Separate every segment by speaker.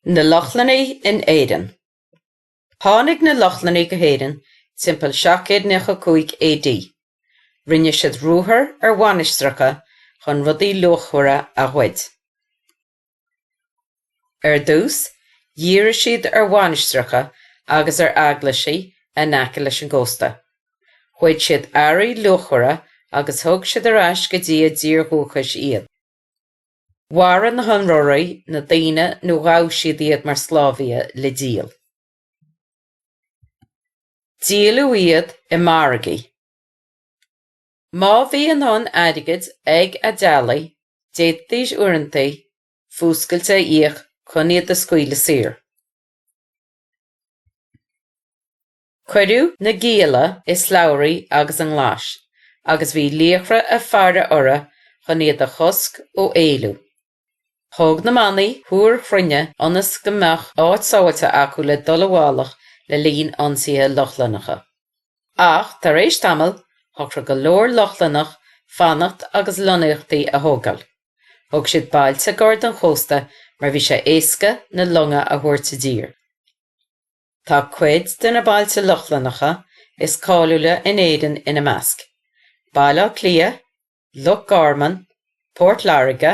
Speaker 1: Na Lochlannaigh in Éirinn. Tháinig na Lochlannaigh go hÉirinn timpeall 795 AD. Rinne siad ruathar ar mhainistreacha chun rudaí luachmhara a ghoid. Ar dtús, dhírigh siad ar mhainistreacha agus ar eaglaisí in aice leis an gcósta. Ghoid siad earraí luachmhara agus thug siad ar ais go dtí a dtír dhúchais iad. Mharaigh na hionróirí na daoine nó ghabh siad iad mar sclábhaithe le díol. Díoladh iad i margaí. Má bhí a ndóthain airgid ag a dteaghlaigh, d'fhéadfaidís uaireanta fuascailt a íoc chun iad a scaoileadh saor. Cuireadh na gialla i slabhraí agus i nglais agus bhí laochra ag faire orthu chun iad a chosc ó éalú. Thóg na manaigh túir chruinne ionas go mbeadh áit sábháilte acu le dul i bhfolach le linn ionsaithe Lochlannacha. Ach tar éis tamaill, shocraigh go leor Lochlannach fanacht agus lonnaíochtaí a thógáil. Thóg siad bailte gar don chósta mar bhí sé éasca na longa a thabhairt i dtír. Tá cuid de na bailte Lochlannacha is cáiliúla in Éirinn ina measc, Baile Átha Cliath, Loch Garman, Port Láirge,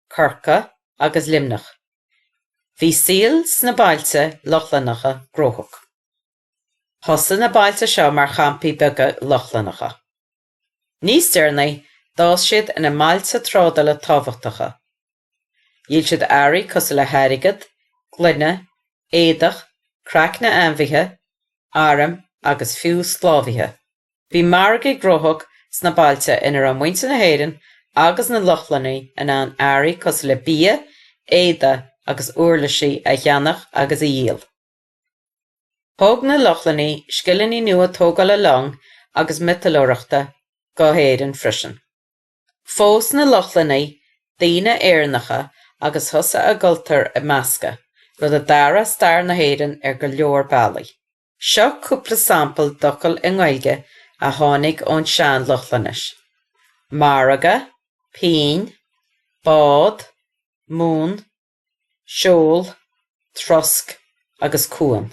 Speaker 1: Corcaigh agus Luimneach. Bhí saol sna bailte Lochlannacha gnóthach. Thosaigh na bailte seo mar champaí beaga Lochlannacha. Níos deireanaí, d'fhás siad ina mbailte trádála tábhachtacha. Dhíol siad earraí cosúil le hairgead, gloine, éadach, craicne ainmhithe, airm agus fiú sclábhaithe. Bhí margaí gnóthach sna bailte ina raibh muintir na hÉireann agus na Lochlannaigh in ann earraí cosúil le bia, éadaí agus uirlisí a cheannach agus a dhíol. Thóg na Lochlannaigh scileanna nua tógála long agus miotalóireachta go hÉirinn freisin. Phós na Lochlannaigh daoine Éireannacha agus thosaigh a gcultúr ag meascadh, rud a d'athraigh stair na hÉireann ar go leor bealaí. Seo cúpla sampla d'fhocail i nGaeilge a tháinig ón sean-Lochlainnis, margadh, pingin, bád, mún, seol, trosc agus cuan.